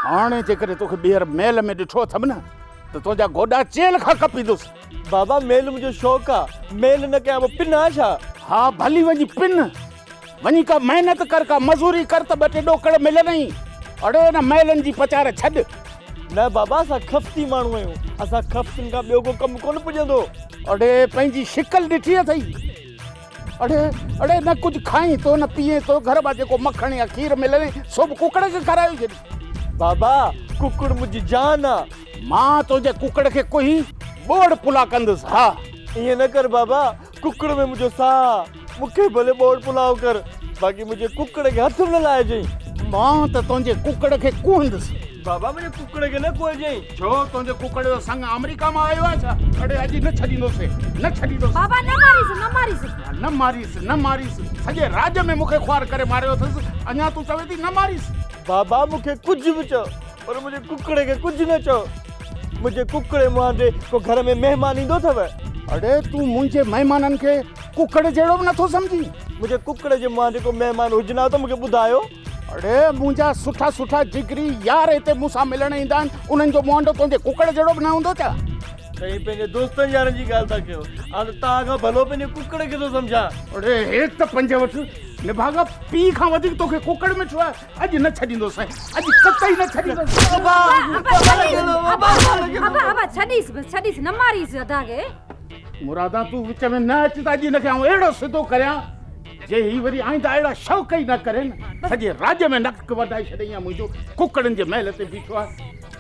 هاڻي جيڪڏهن توکي ٻيهر محل ۾ ڏٺو اٿم نه ته تنهنجا گوڏا چيلهه کان ڪپيندس. بابا محل منهنجو شوق آ. محل نه ڪيان ٻه پن آ ڇا؟ ها ڀلي وڃي پن. وڃي ڪا محنت ڪر، ڪا مزوري ڪر ته ٻه ٽي ڏوڪڙ ملندئي. اڙي ان مئلن جي پچار ڇڏ. نه بابا اسان خفتي ماڻهو آهيون، اسان خفتن کان ٻيو ڪو ڪم ڪونه پڄندو. اڙي پنهنجي شڪل ڏٺي اٿئي. اڙي اڙي نه ڪجهه کائين ٿو نه پيئين ٿو، گهر مان جيڪو مکڻ يا کير ملندئي سو به ڪڪڙ کي کارائي ڇڏ. بابا ڪڪڙ منهنجي جان آ. مان تنهنجي ڪڪڙ کي ڪوهي ٻوڙ پلا ڪندس ها. ائين نه ڪر بابا ڪڪڙ ۾ منهنجو ساهه آ، مون کي ڀلي ٻوڙ پلاء ڪر، باقي منهنجي ڪڪڙ کي هٿ به نه لائجئين. مان ته تنهنجي ڪڪڙ کي ڪوهندس. بابا منهنجي ڪڪڙ کي نه ڪوهجئين. ڇو تنهنجي ڪڪڙ جو سڱ آمريڪا مان آيو آهي ڇا؟ اڙي اڄ نه ڇڏيندوسين، نه ڇڏيندوسين. بابا نه ماريس، نه ماريس. نه ماريس، نه ماريس، سڄي راڄ ۾ مون کي خوار ڪري ماريو اٿس، اڃا تون چوين ٿي نه ماريس. بابا مون کي ڪجهه به چئو، پر منهنجي ڪڪڙ کي ڪجهه نه چئو. منهنجي ڪڪڙي مهانڊي ڪو گهر ۾ مهمان ايندو اٿو. اڙي تون منهنجي مهمانن کي ڪڪڙ جهڙو به نٿو سمجهين. منهنجي ڪڪڙي جي مهانڊي ڪو مهمان هجن ها ته مون کي ٻڌايو. اڙي منهنجا سٺا سٺا جگري يار هتي مون سان ملڻ ايندا آهن انهن جو مهانڊو تنهنجي ڪڪڙ جهڙو به نه هوندو ڇا؟ سائين پنهنجي دوستن يارن جي ڳالهه ٿا ڪيو آء ته توهان کان ڀلو پنهنجي ڪڪڙ کي ٿو سمجهان. اڙي هيت پنج وٺ نڀاڳا پيء کان وڌيڪ توکي ڪڪڙ مٺو آهي. اڄ نه ڇڏيندو سائين اڄ قطعي نه ڇڏيندو ابا ابا ابا ابا ڇڏيس بس ڇڏيس نه ماريس ادا کي مرادا تون وچ ۾ نه اچ ته اڄ نکي آئون اهڙو سڌو ڪريان جي هي وري آئندا اهڙا شوق ئي نه ڪرين سڄي راڄ ۾ نڪ وڌائي ڇڏي يا منهنجو ڪڪڙن جي محل تي بيٺو آ